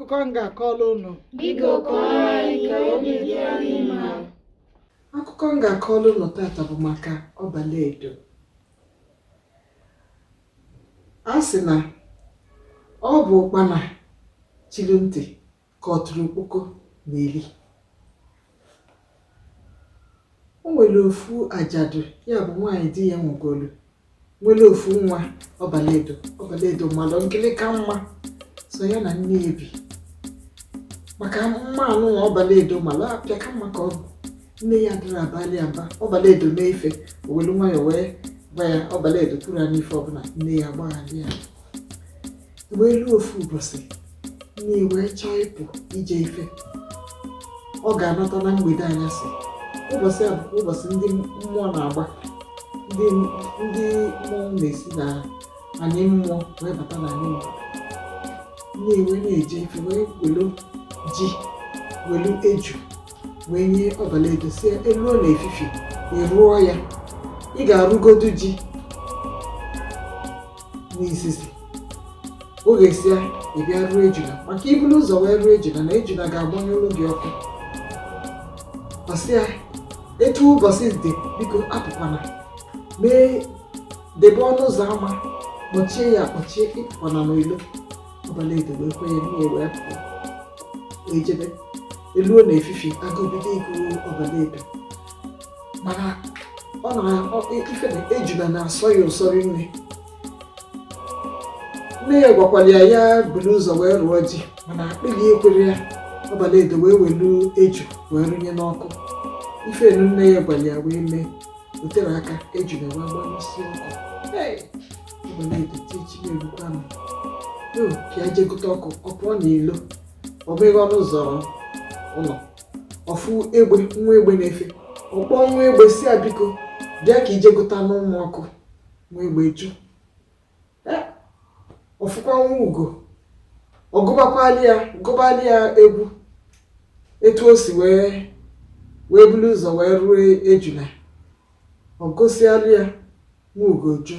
akụkọ m ga-akọrọ unu Biko kọọrọ anyị ka obi dị anyị mma. akụkọ m ga-akọrọ unu tata bụ maka ọbaledo a sị na ọ bụ ụkpana chiri ntị ka ọtụrụkpọkpọ na-eli o nwere ofu ajadu ya bụ nwaanyị di ya nwụgolu nwere ofu nwa ọbaledo ọbaledo malụ nkịlịka mma so ya na nne ebi maka mma anụa ọbaledo mara apịa ka mma ka ọ bụ nne ya adịrọ abalị ya mba ọbaledo mee ife o welu nwayọ wee gwa ya ọbaledo kwuru ya n'ife ọbụla nne ya agbaghalụ ya wee luo ofu ụbọsị nne wee chọọ ịpụ ije ife ọ ga-anata na mgbede anyasị ụbọsị a bụkwa ụbọsị ndị mmụọ na-agba ndị ndị mmụọ na-esi na anị mmụọ wee bata na anị mmadụ nne wee na-eje ife wee welu ji welu eju wee nye ọbaledo sị ya e luo na efifie ị rụọ ya ị ga-arụgodu ji n'izizi o ghesịa ị bịa rụọ ejula maka i bulu ụzọ wee rụọ ejula na ejula ga-agbanyụlụ gị ọkụ ọ sị ya etu ụbọsị dị biko apụkwana mee debe ọnụ ụzọ ama mechie ya kpọchie ị pụkwana n'ilo ọbaledo wee kwenye nne ya wee pụọ wee jebe e luo na efifie agụụ bido ịgụ ọbaledo mana ọ na-ife na ejula na-asọ ya ụsọ rinne nne ya gwakwara ya ya buru ụzọ wee rụọ ji mana akpịlị ekwerọ ya ọbaledo wee welu eju wee rụnye n'ọkụ ife anụa nne ya gwara ya wee mee o terọ aka ejula wee gbanyụsịa ọkụ ọbaledo tichi ya erukwa m ka ya jee gụte ọkụ ọ pụọ n'ilo ọ bụghị ọnụ ụzọ ụlọ ọ fụ egbe nwa egbe na-efe ọ kpọọ nwa egbe sị ya biko bịa ka i jee gụtanụ mụ ọkụ nwa egbe jụ ọ fụkwa nwa ugo ọ gụbakwali ya gụbali ya egwu etu o si wee wee bulu ụzọ wee rụọ ejula ọ gụsịalụ ya nwa ugo jụ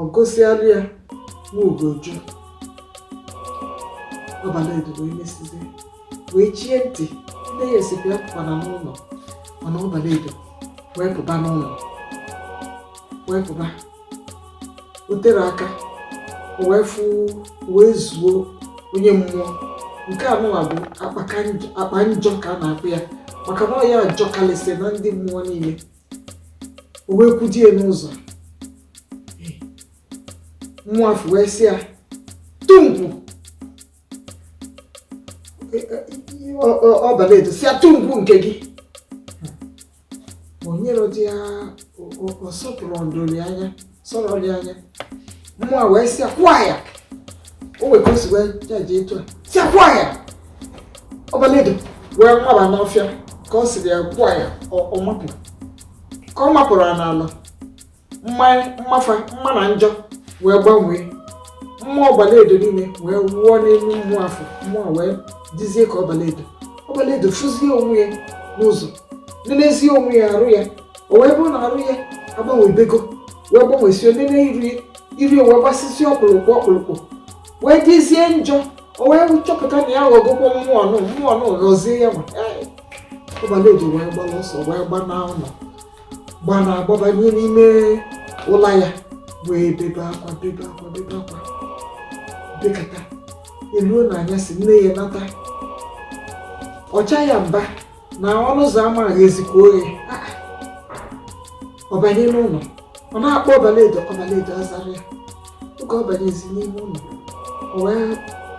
ọ gụsịalụ ya nwa ugo jụ ọbaledo wee mesizi wee chie ntị nne ya sịkwa ya apụkwana n'ilo mana ọbaledo wee pụba n'ilo wee pụba o tere aka o wee fụ wee zuo onye mmụọ nke anụwa bụ akpaka njọ- akpa njọ ka a na-akpọ ya maka na ọ ya ajọkalịsị na ndị mmụọ niile o wee kwụchie n'ụzọ Eh, mmụọ afụ wee sị ya tungwu ọbala edo sị ya tungwu nke gị onyere dị ya ọsọpụrụ ndori anya sọrọ dị anya mmụọ wee sị ya kwụọ ya o wee gosi wee jaji etu a si akwụọ ya ọbala edo wee nwaba n'ọfịa ka ọ sịrị ya kwụọ ya ọ makụ ka ọ makụrụ ya n'arụ mma ya mma fa mma na njọ wee gbanwee mma ọbala edo niile wee wụọ n'elu mmụọ afụ mmụọ wee dizie ka ọbala edo ọbala edo fụzie onwe ya n'ụzọ nelezie onwe ya arụ ya o wee bụrụ na arụ ya agbanwebego wee gbanwesie nene iru ya iru ya wee gbasisi ọkpụrụkpụ ọkpụrụkpụ wee dizie njọ o wee chọpụta na ya ghọgokwa mmụọ nụ mmụọ nụ ghọzie ya ma ọbala edo wee gbara ọsọ wee gba n'ụlọ gbanaa gbabanye n'ime ụlọ ya wee bebe akwa bebe akwa bebe akwa bekata eluo n'anyasị nne ya nata ọcha ya mba na ọnụ ụzọ ama ghezikwa oghe ah, ah. ọ banye n'ụlọ ọ na-akpọ ọbalaedo ọbalaedo azarọ ya tuka ọ banyezi n'ime ụlọ wee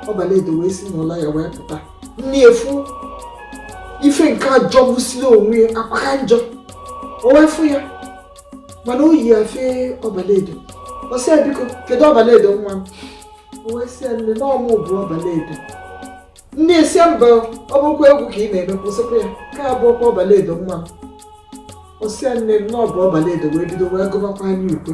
ọbala edo wee si n'ụlọ ya wee pụta nne afụ ife nke a jọgbusiri onwe ya akpaka njọ o wee fụ ya mana o yi afe ọbala edo ọ sị ya biko kedu ọbala edo nwa m o wee sị ya nne na ọ mụ bụ ọbala edo nne ya sị mba ọ bụkwa egwu ka ị na-eme kwụsịkwa ya ka abụ ọkwa ọbala edo nwa m o sị ya nne na ọ bụ ọbala edo wee bido wee gụbakwara ya ukwe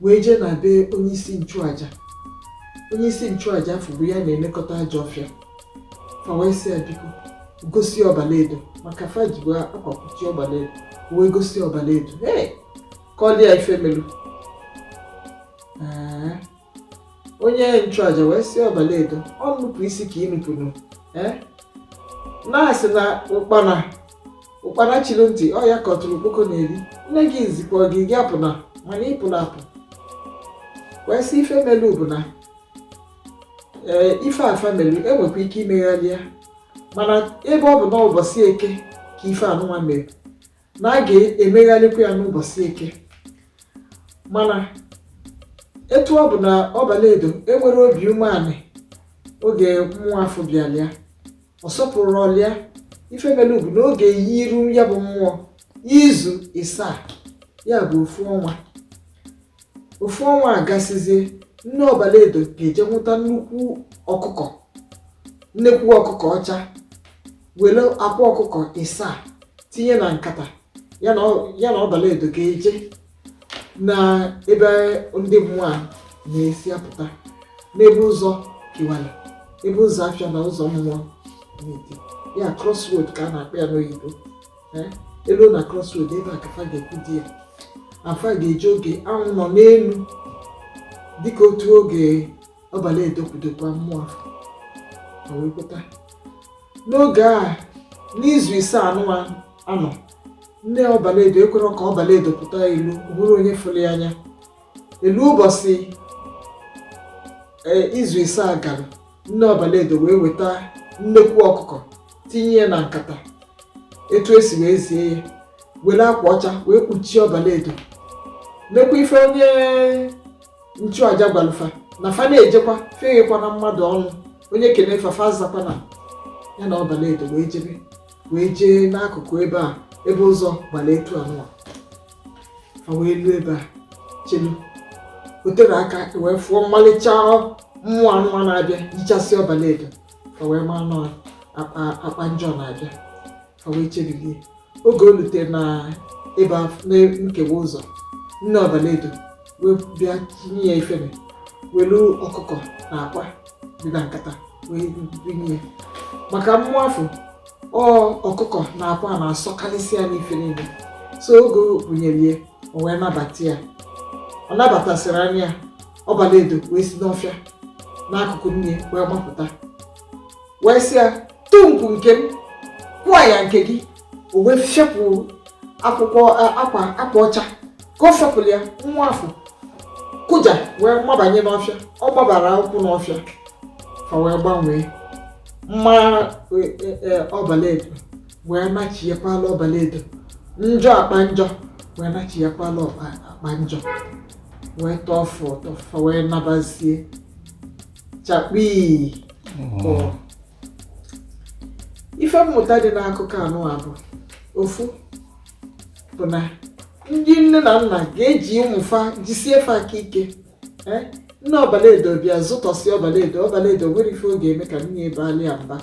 wee jee na be onye isi nchụaja onye isi nchụaja afụ bụ ya na-elekọta ajọ ọfịa fa wee sị ya biko gosi ọbalaedo maka fa ji wee akwa kpuchie ọbalaedo wee gosi ọbalaedo ee ka ọ dị ya ife melu Ee, onye nchụaja wee sị ọbalaedo ọ nnupụ isi ka ị nupụrụ ee na a sị na ụkpana ụkpara chiri ntị ọ ya ka ọtụrụ okpoko na-eri nne gị zikwa gị gị apụna mana ị pụrụ apụ wee sị ife melu bụ na ee ife afụ melu e nwekwa ike imegharị ya mana ebe ọ bụ na ụbọchị eke ka ife anụnwa mere na a ga-emegharịkwa ya n'ụbọchị eke mana etu ọ bụ na ọbala edo enwerọ obi umeanị oge mmụọ afụ bịara ya ọ sọpụrụ ọlịa ife e mere ugwu n'oge e yiru ya bụ mmụọ izu isaa ya bụ ofu ọnwa ofu ọnwa agasizie nne ọbala edo ga-eje nwụta nnukwu ọkụkọ nnekwu ọkụkọ ọcha were akwa ọkụkọ isaa tinye na nkata ya na ọbala edo ga-eje na ebe ndị mmụọ a na-esi apụta n'ebe ụzọ kewara ebe ụzọ afịa na ụzọ mmụọ dị ya crossroad ka a na-akpọ ya n'oyibo eh, e luo na crossroad ebe a ka fa ga-ekwudo ya fa ga-eje oge anwụ nọ n'elu dịka otu oge ọbala edo kwudokwa mmụọ wee pụta n'oge a n'izu isaa anụwa anọ nne ọbalaedo ekwerọ ka ọbalaedo pụta ilo bụrụ onye fụrụ ya anya e luo ụbọsị ee, izu isaa gara nne ọbalaedo wee weta nnekwu ọkụkọ tinye ya na nkata etu esi wee zie ya were akwa ọcha wee kpuchie ọbalaedo nekwa ife onye nchụaja gwalụ fa na fa na-ejekwa fa eghekwana mmadụ ọnụ onye kene fa fa azakwana ya na ọbalaedo wee jebe wee jee n'akụkụ ebe a ebe ụzọ gbara etu anụwa fa wee luo ebe a chelu o tere aka e wee fụ mmalịcha mmụọ anụwa na-abịa yichasị ọbala edo fa wee maa na ọ akpa akpa njọ na-abịa fa wee chebilie oge o lutere na ebe af- na nkewa ụzọ nne ọbala edo wee bịa tinye ya ifere were ọkụkọ na akwa dị na nkata wee bunye ya maka mmụọ afụ ọkụkọ na akwa na-asọkarịsị ya n'ife niile so oge o bunyere ya o wee nabata ya ọ nabatasịrị ya ọbala edo wee si n'ọfịa n'akụkụ nne ya wee gbapụta wee sị ya tumpu nke m kwụọ ya nke gị o wee fepụ akwa akwa ọcha ka ọ fepụrụ ya mmụọ afụ kụja wee mabanye n'ọfịa ọ gbabara ụkwụ n'ọfịa fa wee gbanwee mma e, e, e, ọbalaedo wee nachiyekwala ọbalaedo njọ akpa njọ wee nachiyekwala akpa njọ wee tọọ fa ụtọ fa wee nabazie chakpii ife mmụta dị n'akụkọ anụwa bụ ofu bụ na ndị nne na nna ga-eji ụmụ fa jisie fa aka ike ee nne ọbalaedo bịa zụtọsịa ọbalaedo ọbalaedo enwerọ ife ọ ga-eme ka nne ya baalụ ya mba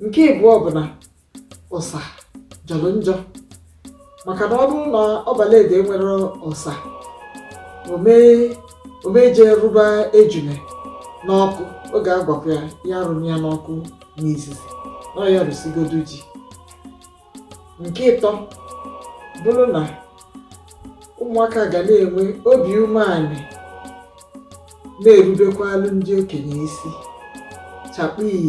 nke ịbụọ bụ na ụsa jọrọ njọ maka na ọ bụrụ na ọbalaedo enwerọ ụsa ọ ma-eje rụba ejune n'ọkụ oge a gwakwa ya ya arụna ya n'ọkụ n'izizi na ya rụsigodu ji nke ịtọ bụrụ na ụmụaka ga na-enwe obi umeala na-erubekwaalụ ndị okenye isi chakpii